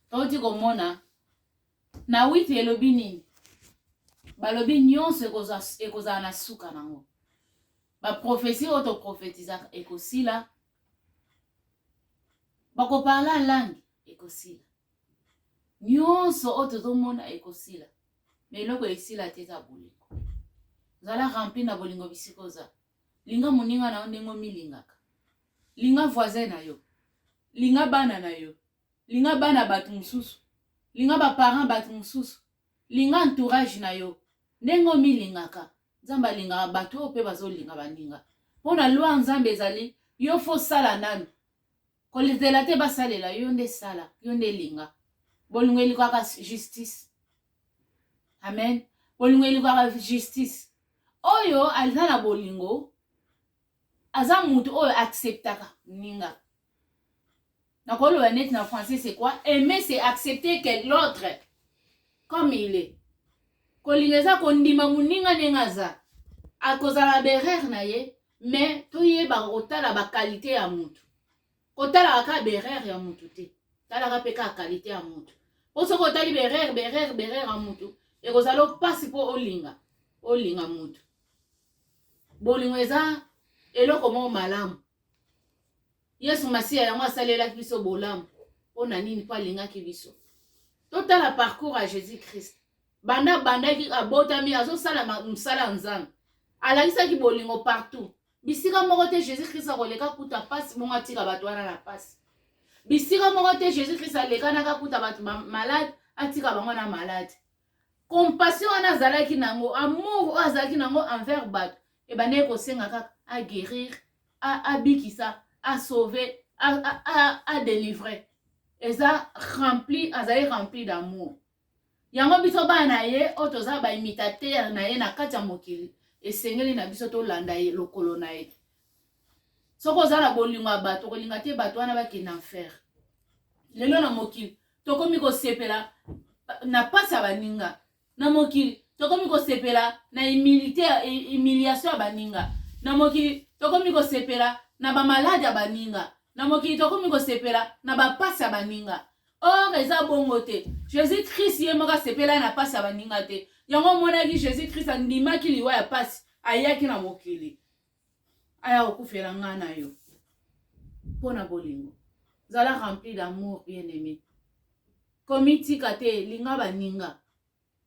Touti komona na wiki elobi nini balobi nyonso ekozala na suka nango baprofesi oyo toprofetizaka ekosila bakoparla langue ekosila nyonso oyo tozomona ekosila na eloko esila te eza bolingo zala rempli na bolingo bisika oza linga moninga na yo ndenge omilingaka linga voisin na yo linga bana na yo linga bana bato mosusu linga baparent bato mosusu linga entourage na yo ndenge omilingaka nzambe alingaka bato oyo mpe bazolinga baninga mpo na lwa nzambe ezali yo fo sala nanu kolizela te basalela yo nde sala yo nde linga bolingo elikaka justice amen bolingo elikaka justice oyo aza na bolingo aza mutu oyo acceptaka ninga nakoloba neti na français c'est quoi aimer c'est accepter que l'autre comme il est kolinga eza kondima moninga ndenge aza akozala berere na ye mais toyebaka kotala bakalite ya motu kotalaka kaka berere ya mutu te talaka mpe kaka kalite ya mutu mpo soki otali berere berere berere ya mutu ekozala mpasi mpo olinga olinga mutu bolingo eza eloko moko malamu yesu masiya yango asalelaki biso bolamu mpo na nini mpo alingaki biso totala parcours ya jésus christ banda abandaki abotami azosala mosala ya nzambe alakisaki bolingo partout bisika moko te jésus krist akoleka kuta mpasi bongo atika bato wana na mpasi bisika moko te jésus krist alekanaka kuta bato malade atika bango na malade compassion wana azalaki na yango amour oyo azalaki na yango envers bato ebandaki kosenga kaka aguérir abikisa asauve adelivre eza rempli azali rempli d'amour Yango biso bana na ye oyo toza ba imitateur na ye na kati ya mokili esengeli na biso tolanda ye lokolo na ye soki oza na bolingo ya bato okolinga te bato wana bakende enfer lelo na mokili tokomi kosepela na mpasi ya baninga na mokili tokomi kosepela na humilité humiliation ya baninga na mokili tokomi kosepela na bamaladi ya baninga na mokili tokomi kosepela na bapasi ya baninga or eza bongo te jesus christ ye moko asepela na mpasi ya baninga te yango omonaki jesus christ andimaki liwa ya mpasi ayaki na mokili aya kokufela ngai na yo mpo na bolingo zala rempli d'amour bien aimé komitika te linga baninga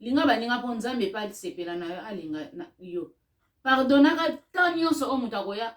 linga baninga mpo nzambe mpe asepela na yo alinga na yo pardonaka ntan nyonso oyo moto akoya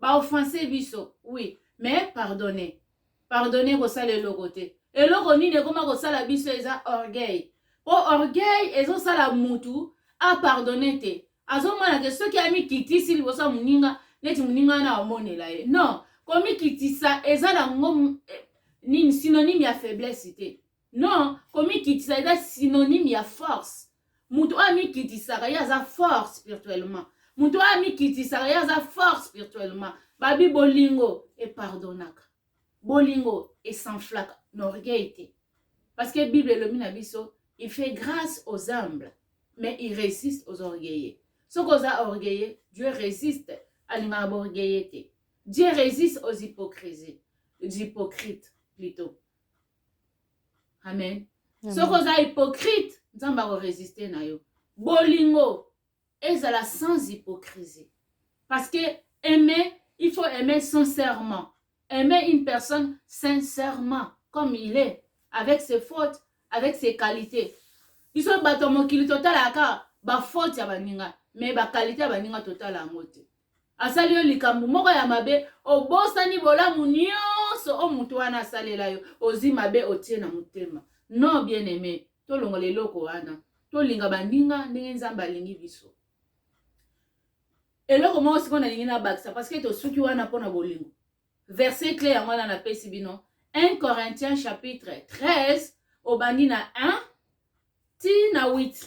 ba offense biso oui mais pardonner pardonner kosala eloko te eloko nini ekoma kosala biso eza orgueil po orgueil ezosala mutu apardonne te azomona ke soki amikitisi liboso ya moninga neti moninga wana aomonela ye non komikitisa eza nango eh, nini synonyme ya faiblesse te Non, komikitisa eza synonyme ya force. Moto oyo amikitisaka ye aza fort spirituellement. Moto oyo amikitisaka ye aza fort spirituellement. Babi bolingo epardonaka. Bolingo esanflaka na orgueil te. Parce que Bible elobi na biso, il fait grâce aux humbles, mais il résiste aux orgueilleux. Soki oza orgueilleux, Dieu résiste, alingaka ba orgueilleux te. Dieu résiste aux hypocrisies, aux hypocrites plutôt. amen soki oza hypocrite nzambe akoresiste na yo bolingo ezala sans hypocrisie parce que aimer il faut aimer sincèrement aimer une personne sincèrement comme il est avec ses fautes avec ses qualités biso bato ya mokili totalaka bafaute ya baninga me bakalite ya baninga totala yango te asali yo likambo moko ya mabe obosani bolamu nyonso o moto wana asalela yo ozwi mabe otie na motema non bien aime tolongola eloko wana tolinga baninga ndenge nzambe alingi biso eloko moko sikoyo nalingi nabakisa parceke tosuki wana mpo na bolingo verse cle yango wana napesi bino 1 corinthiens chapitre 13 obandi na 1 ti na 8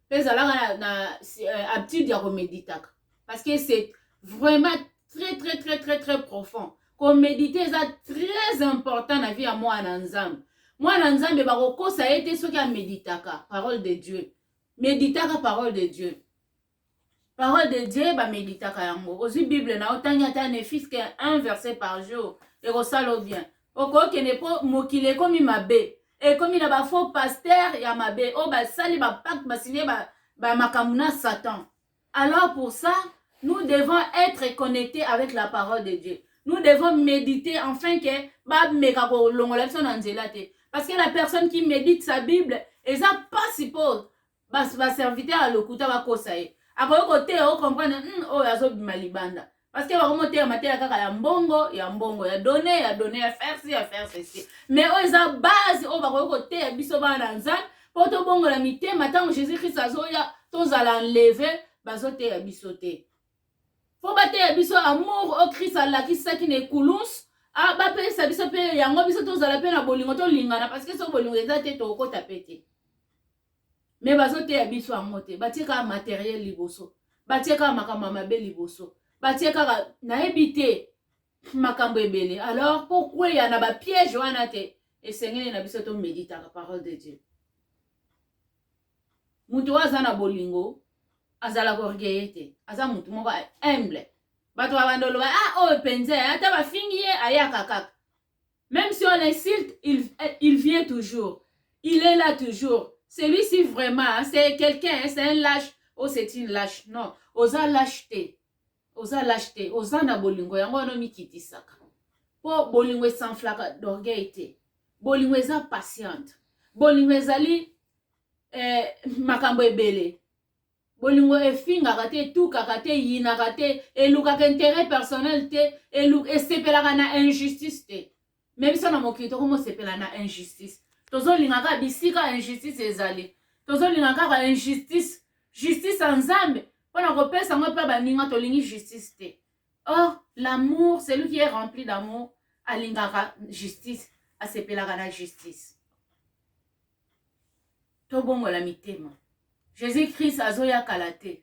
pe zalaka na, na euh, habitude ya komeditaka parce que c'est vraiment très très très très très profond komedite eza très important na vie ya mwana na nzambe mwana na nzambe bakokosa ye te soki ameditaka parole de dieu meditaka parole de dieu Parole de Dieu ba meditaka yango. Ozwi Bible na otangi ata ne fils que un verset par jour ekosala o bien. Okokende mpo mokili ekomi mabe, ekomi na ba faux pasteur ya mabe oyo basali ba pacte basigne ba, ba makambo na Satan. Alors pour ça, nous devons être connectés avec la parole de Dieu. Nous devons méditer afin que bameka kolongola biso na nzela te. Parce que la personne qui médite sa Bible eza pasi mpo bas ba serviteur ya lokuta bakosa ye akoki koteya o comprendre hmm, oyo oh, azobima libanda parce que bakomoteya mateya kaka ya mbongo ya mbongo ya done ya done ya faire ci ya faire ceci mais oyo oh, eza base oyo oh, bakoki koteya biso bana na nzambe mpo tobongola mitema ntango jésus christ azoya tozala enleve bazoteya biso te mpo bateya biso amour oyo christ alakisaki na ekulunsu ah, bapesa biso mpe yango biso tozala mpe na bolingo tolingana parce que soki bolingo eza te tokokota mpe te me bazoteya biso yango te batie kaka materiel liboso batie kaka makambo ya mabe liboso batie kaka nayebi te makambo ebele alors mpo kweya na bapiège wana te esengeli na biso tomeditaka parole de dieu moto oyo aza na bolingo azalaka orgueille te aza moto moko humble bato babanda oloba ah oyo mpenza ata bafingi ye ayaka kaka Meme si on l'insulte, il, il vient toujours. Il est là toujours. Celui-ci vraiment, c'est quelqu'un, c'est un lâche. Oh, c'est une lâche. Non, oza lâche te. Oza lâche te. Oza na bolingo. Yango wana omikitisaka. Po bolingo esanflaka d'orgueil te. Bolingo eza patiente. Bolingo ezali eh, makambo ebele. bolingo efingaka te etukaka te eyinaka te elukaka interet personnel te elu, esepelaka na injustice te me biso na mokili tokomosepela na injustice tozolinga kaka bisika injustice ezali tozolinga kaka injustice justice ya nzambe mpo na kopesa yango mpe baninga tolingi justice te or l'amour celui qui est rempli d'amour alingaka justice asepelaka na justice tobongola mitema jesus christ azoya kala te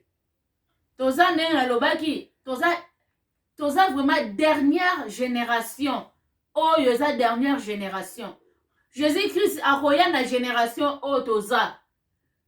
toza ndenge nalobaki toza toza vraiment dernière génération oyo eza dernière génération jesus christ akoya na génération oyo toza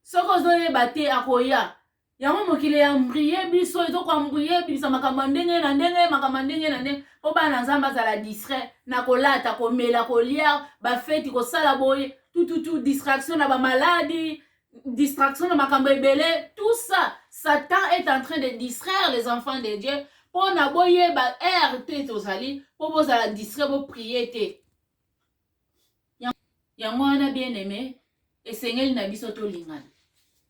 soki ozoyeba te akoya yango mokili ya mbrie biso ezo koambrie ebimisa makambo ya ndenge na ndenge makambo ya ndenge na ndenge mpo bana nzambe azala distrait na kolata komela kolia bafeti kosala boye tututu distraction na bamaladi distraction na makambo ebele tout ça satan est en train de distraire les enfants de dieu mpo na boyeba heure te tozali mpo bozala distrait boprie te yango wana bien aime esengeli na biso tolingana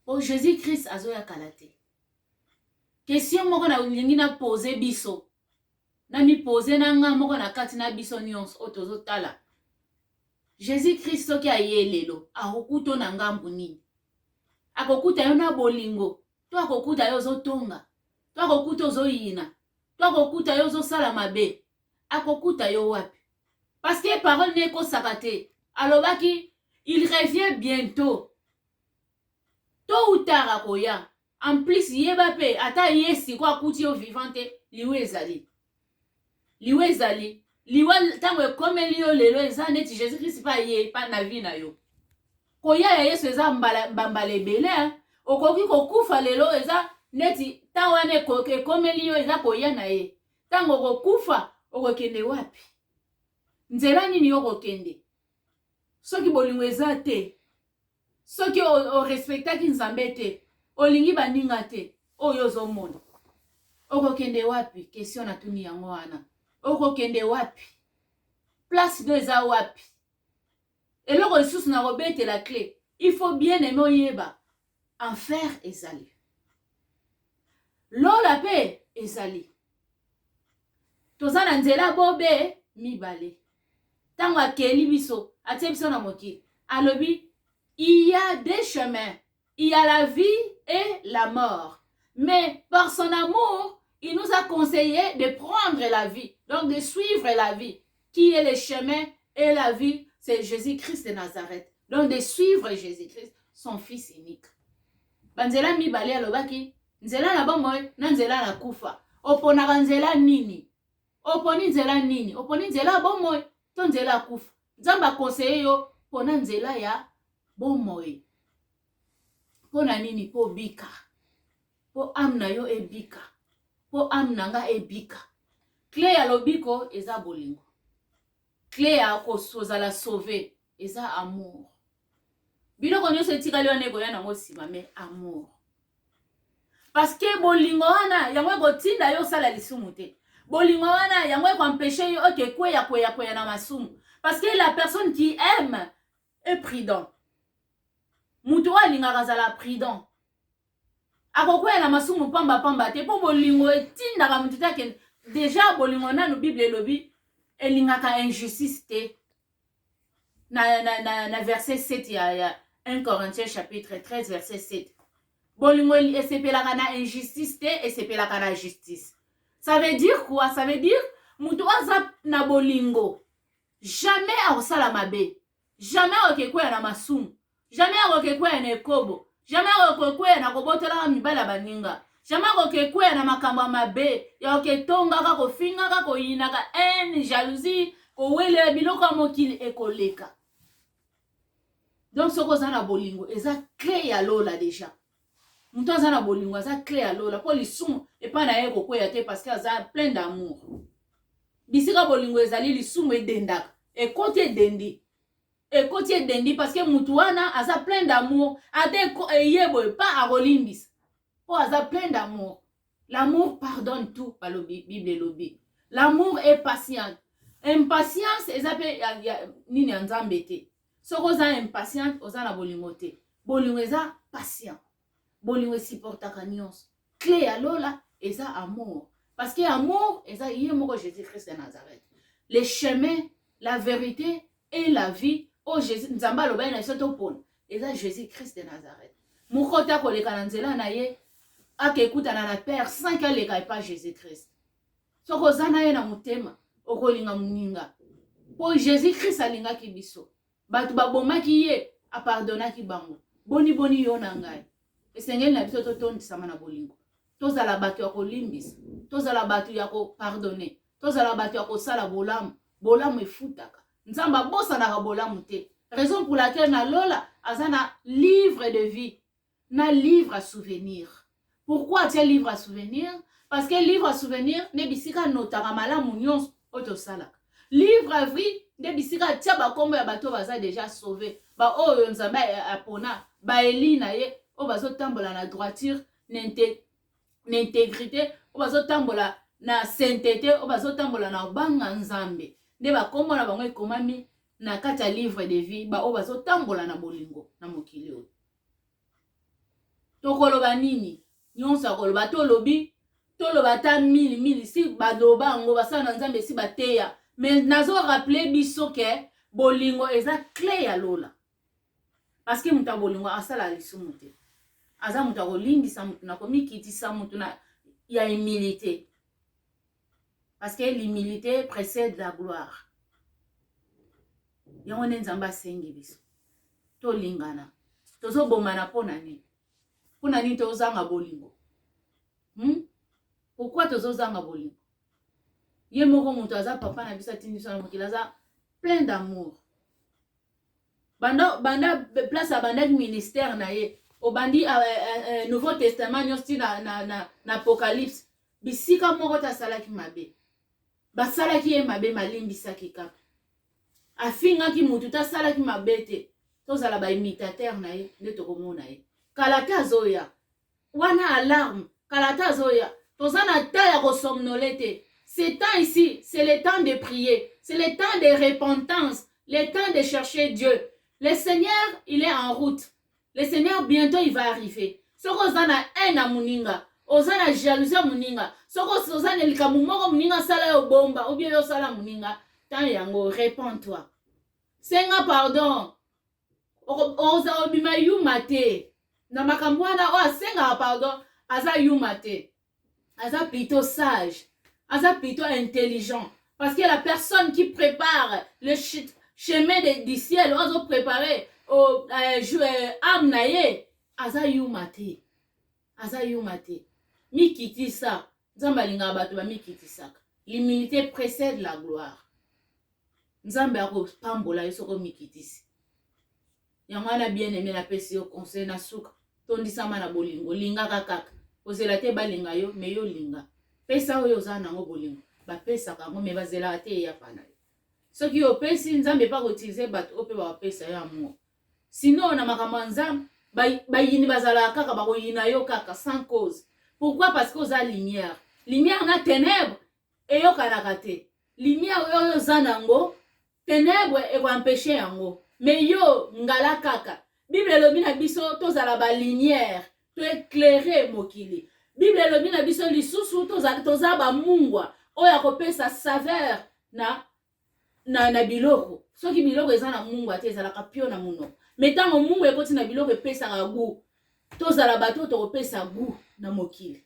po jésus christ azoya kala te question moko nalingi na pose biso namipose na nga moko na kati na biso nyonso oyo tozotala jésus christ soki aye lelo akokuto na ngambu nini akokuta yo na bolingo to akokuta yo ozotonga to akokuta ozoyina to akokuta yo ozosala mabe akokuta yo wapi parce que parole ne ekosaka te alobaki il revient bientôt to ou tard akoya en plus yeba mpe ata ye siko akuti yo vivant te liwa ezali liwa ezali liwa ntango ekomeli yo lelo eza neti jésus krist mpe aye mpa na vie na yo koya ya yesu eza mbambala ebele okoki kokufa lelo eza neti ntango wana ekomeli yo eza koya na ye ntango okokufa okokende wapi nzela nini yo okokende soki bolingo eza te soki orespektaki nzambe te olingi baninga te oyo ozomona okokende wapi question natuni yango wana okokende wapi place no eza wapi Eloko lisusu na kobetela cle, il faut bien aime oyeba enfer ezali, lola pe ezali. Toza na nzela bobe mibale. Tango akeli biso, atie biso na mokili, alobi il y a deux chemins il y a la vie et la mort mais par son amour il nous a conseillé de prendre la vie donc de suivre la vie qui est le chemin et la vie c'est Jésus-Christ de Nazareth donc de suivre Jésus-Christ son fils unique banzela mibale alobaki nzela na bomoi na nzela na kufa oponaka nzela nini oponi nzela nini oponi nzela ya bomoi to nzela ya kufa nzambe akonseye yo mpona nzela ya bomoi mpo na nini mpo obika mpo ame na yo ebika mpo ame na nga ebika kle ya lobiko eza bolingo kle ya kozala sauve eza amour biloko nyonso etikali wana ekoya nango nsima me amour parce que bolingo wana yango ekotinda yo osala lisumu te bolingo wana yango ekoempeshe yo oke kweya kweya kweya na masumu parce que la personne qui aime est prudent moto oyo alingaka azala prudent Akokwea na masumu pamba pamba te, mpo bolingo etindaka moto te akende. Deja bolingo nanu Biblia elobi elingaka injustice te. Na, na, na, na verset 7 ya, ya 1 Corinthiens chapitre 13 verset 7 bolingo esepelaka na injustice te, esepelaka na justice. Ça veut dire quoi? Ça veut dire moto aza na bolingo jamais akosala mabe Jamais akoki ekweya na masumu. Jamais akoki ekweya na ekobo. Jamais akoki ekweya na kobotolaka mibali ya baninga. Jamais akoki ekweya na makambo ya mabe ya koketongaka, kofingaka, koyinaka, haine, jalousie, kowelela biloko ya mokili ekoleka. Donc soki oza na bolingo eza clé ya lola deja. moto aza na bolingo aza cle ya lola mpo lisumu epai na ye ekokweya te parce que aza plein d'amour bisika bolingo ezali lisumu edendaka ekoti edendi ekoti edendi parce que moto wana aza plein d'amour ata eye boye pa akolimbisa mpo aza plein d'amour l'amour pardonne tout balobi bible elobi l'amour est patiente impatience eza mpe nini ya nzambe te soki oza impatiente oza na bolingo te bolingo eza patient bolingo esupportaka nyonso cle ya lola eza amour parce que amour eza ye moko jésus christ de nazareth le chemin la vérité et la vie oyo jésus nzambe alobaki na biso topona eza jésus christ de nazareth moko te akoleka na nzela na ye akekutana na père sanki aleka epa jésus christ soki oza na ye na motema okolinga moninga mpo jésus christ alingaki biso bato babomaki ye apardonaki bango boni boni yo na ngai esengeli na biso totondisama na bolingo tozala bato ya kolimbisa tozala bato ya kopardone tozala bato ya kosala bolamu bolamu efutaka nzambe abosanaka bolamu te raison pour laquelle na lola aza na livre de vie na livre à souvenir pourquoi atie livre à souvenir parce que livre à souvenir nde bisika anotaka malamu nyonso oyo tosalaka livre à vie nde bisika atia bakombo ya bato oyo baza deja sauve baoyo nzambe apona baeli na ye oyo bazotambola na droiture na intégrité oyo bazotambola na saintete oyo bazotambola na obanga nzambe nde bakombo na bango ekomami na kati ya livre de vie baoyo bazotambola na bolingo na mokili oyo tokoloba nini nyonso akoloba tolobi toloba ata mili mili si baloba yango basala na nzambe esi bateya me nazo rappele biso ke bolingo eza cle ya lola parceke moto ya bolingo asalaka lisumu te aza moto ya kolimbisa moto na komikitisa moto ya humilité parce que l'humilité précède la gloire yango nde nzambe asengi biso tolingana tozobomana mpo na nini mpo na nini tozanga bolingo hmm? pourkui tozozanga bolingo ye moko moto aza papa na biso atindi biso na mokili aza plein d'amour banda, banda place abandaki ministère na ye obandi uh, uh, nouveau testament nyonso ti na, na, na, na apocalypse bisika moko te asalaki mabe basalaki ye mabe malimbisaki kaka afingaki motu te asalaki mabe te tozala baimitatere na ye nde tokomona ye kala te azoya wana alarme kala te azoya toza na temps ya kosomnole te ce temps ici c'est le temps de prier c'est le temps de repentance le temps de chercher dieu le seigneur il est en route le seigneur bientot il va arriver soki oza na haine ya moninga oza na jalousie ya moninga soki oza na likambo moko moninga asala yo bomba obie yo osala moninga ntango yango repond toi senga pardon oza obima yuma te na makambo wana oyo asengaka pardon aza yuma te aza plutôt sage aza plutôt intelligent parce que la personne qui prépare le chemin de, du ciel oyo azoprépare oh, euh, euh, ame na ye aza yuma te aza yuma te mikitisa nzambe alingaka bato bamikitisaka l'humilité précède la gloire nzambe akopambola yo soki omikitisi Yango wana bien aime na pesi yo conseil na suka tondisama na bolingo lingaka kaka kozela te balinga yo me yo linga pesa oyo oza nango bolingo bapesaka yango me bazelaka te eyapa na yo soki opesi nzambe mpe akoutilize bato oyo mpe bapesa yo amour sinon na makambo ya nzambe bayini bazalaka kaka bakoyina yo kaka sans cause pourquoi parce que oza lumière lumière na ténèbre eyokanaka te lumière oyo oza nango tenebre ekoampeche yango me yo ngala kaka bible elobi na biso tozala balumière to eclaire mokili bible elobi na biso lisusu toza, toza bamungwa oyo akopesa saveur na na, na biloko soki biloko eza na mungu ate ezalaka pio na munoko me ntango mungu ekoti na biloko epesaka gu tozala bato oyo tokopesa gu na mokili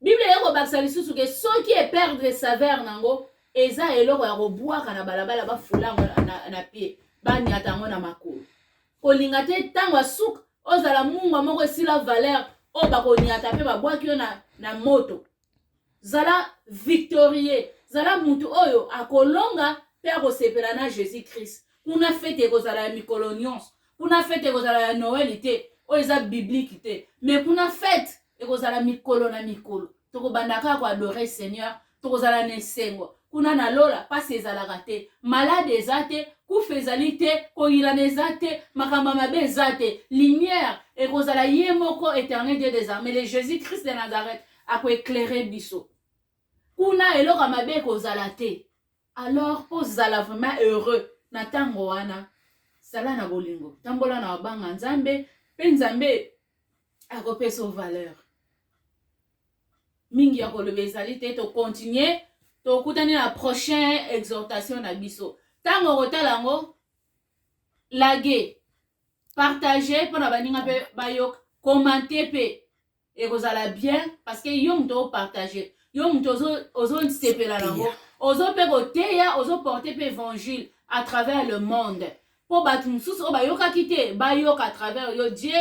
biblia eye kobakisa lisusu ke soki eperdre saveur nango eza eloko ya kobwaka na balabala bafula yango na, na, na pie banyata yango na makolo kolinga te ntango ya suka ozala mungwa moko esila valeur oyo bakonyata mpe babwaki yo na, na moto zala victorieux zala mutu oyo akolonga mpe akosepela na jésus christ kuna fete ekozala ya mikolo nyonso kuna fete ekozala ya noel te oyo eza biblike te me kuna fete ekozala mikolo na mikolo tokobanda kaka koadore seigneur tokozala na esengo kuna na lola mpasi ezalaka te malade eza te kufa ezali te koyilana eza te makambo ya mabe eza te lumière ekozala ye moko éternel dieu des armées le jésus christ de nazareth akoeclaire biso kuna eloko ya mabe ekozala te alors mpo zala vraiment heureux na ntango wana zala na bolingo tambola na mabanga nzambe mpe nzambe akopesa yo valeur mingi ya koloba ezali te tokontinue tokutani na prochain exhortation na biso ntango okotala yango lage partage mpo na baninga mpe bayoka komante mpe ekozala bien parce que yo moto opartage yo moto ozosepela na yango ozo mpe koteya ozoporte mpe évangile à travers le monde mpo bato mosusu oyo bayokaki te bayoka à travers yo dieu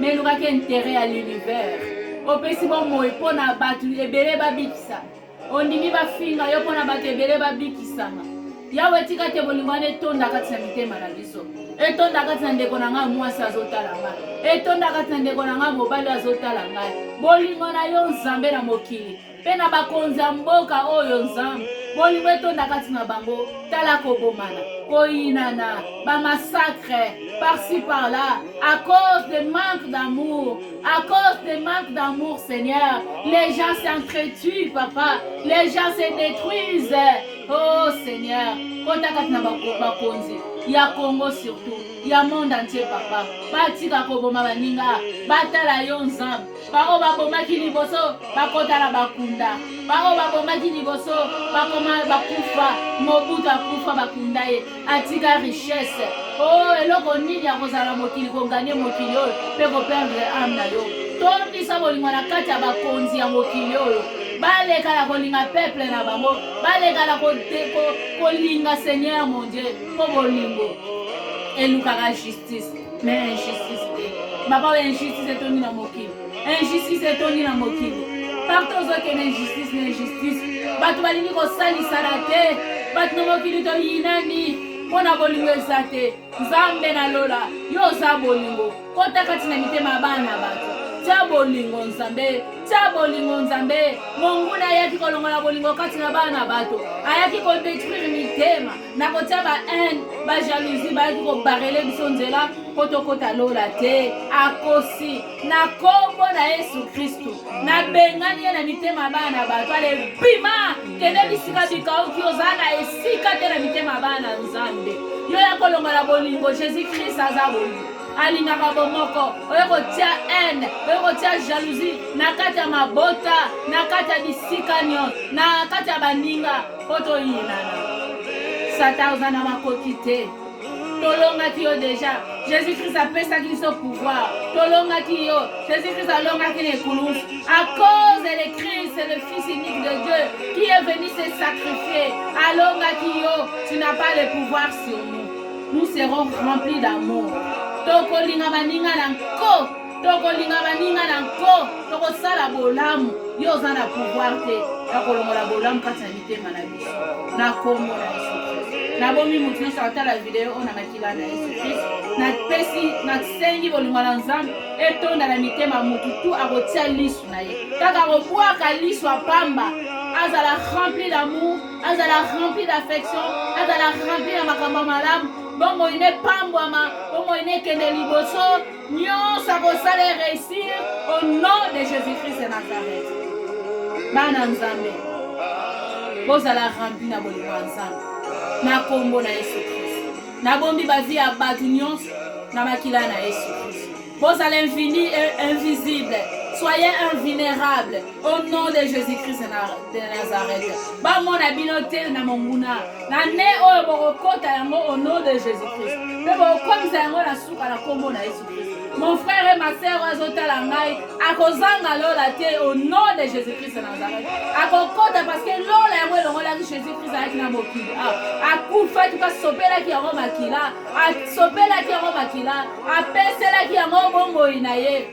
mais elukaki interet ya l'univers opesi bomoi mpo na bato ebele babikisa ondimi bafinga yo mpo na bato ebele babikisama yawe etika te bolingo wana etonda kati na mitema na biso etonda kati na ndeko na ngai mwasi azotala ngai etonda kati na ndeko na ngai mobali azotala ngai bolingo na yo nzambe na mokili mpe na bakonzi ya mboka oyo Nzambe bolingo etonda kati na bango tala kobomana koyinana bamasacre par-ci par-là à cause de manque d'amour à cause de manque d'amour seigneur les gens s'entretuent papa les gens se détruisent oh seigneur kota kati na bakonzi ya congo surtout ya monde entier papa batika koboma baninga batala yo nzambe baoyo babomaki liboso bakota na bakunda baoyo babomaki liboso bakoma bakufa mobutu akufa bakunda ye atika richesse o oh, eloko nini ya kozala na mokili koganye mokili oyo mpe koperdre ame na yo tondisa bolingo na kati ya bakonzi ya mokili oyo baleka na kolinga peple na bango baleka na kolinga seigneur mon dieu mpo bolingo elukaka justice mais injustice te baba oyo injustice etondi na mokili injustice etondi na mokili partout ozokende injustice na injustice bato balingi kosalisana te bato na mokili toyinani mpo na bolingo eza te nzambe na lola yo oza bolingo kota kati na mitema ya bana na bato tya bolingo nzambe tya bolingo nzambe monguna ayaki kolongola bolingo kati na bana na bato ayaki kodetruire mitema na kotia ba haine ba jalousie bayaki kobarele biso nzela mpo tokɔta lola te akosi na nkombo na yesu kristu nabengani ye na mitema ya bana na bato ale bima kende bisika bikauki oza na esika te na mitema ya bana na nzambe yo ya kolongola bolingo jésus krist aza bolingo alingaka bomoko oyo kotia haine oyo kotia jalousie na kati ya mabota na kati ya bisika nyonso na kati ya baninga mpo toyinana satan oza na makoki te tolongaki yo deja jésus krist apesaki biso pouvoir tolongaki yo jésus krist alongaki na ekulusu à cause de christ le fils unique de dieu qui est venu se sacrifier alongaki yo tu n'as pas le pouvoir sur nous nous serons remplis d'amour tokolinga baninga na nko tokolinga baninga na nko tokosala bolamu yo oza na pouvoir te ya kolongola bolamu kati na mitema na biso na kombo na yesu nabomi moto nyonso akotala video oyo na makila na yesu kristo napesi nasengi bolingo na nzambe etonda na mitema motu tu akotia lisu na ye kaka kobwaka lisu apamba azala rempli d'amour azala rempli d'affection azala rempli ya makambo malamu bomoi nepambwama bomoi nekende liboso Nyonso akosala e réussir au nom de Jésus-Christ de Nazareth. Bana Nzambe, bozala rempli na bolingo ya Nzambe na kombo na Yesu Christ. Nabombi bavi ya bato nyonso na makila na Yesu Christ. Bozala invisible, soyez invulnérable. au nom de jésus-christ de nazareth bamona bino te na monguna na ne oyo bokokota yango au nom de jésus-christ mpe bokokomisa yango na suka na nkombo na yesu christ mon frère et ma sœur oyo azotala ngai akozanga lola te au nom de jésus-christ de nazareth akokota parce que lola yango elongolaki jésus-christ ayaki na mokili akufaki mpe asopelaki yango makila asopelaki yango makila apeselaki yango bomoi na ye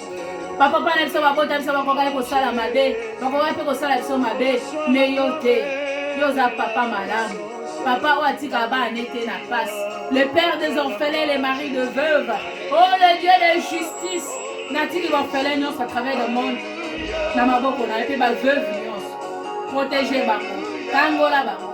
bapapa na biso babota biso bakokaki kosala mabe bakokaki mpe kosala biso mabe me yo te yo oza papa malamu papa oyo atika bana ne te na pasi le père des orphelins le mari de veuve oh le dieu de justice natiki baorphelin nyonso à travers le monde na maboko na yo mpe baveuve nyonso protege bango kangola bango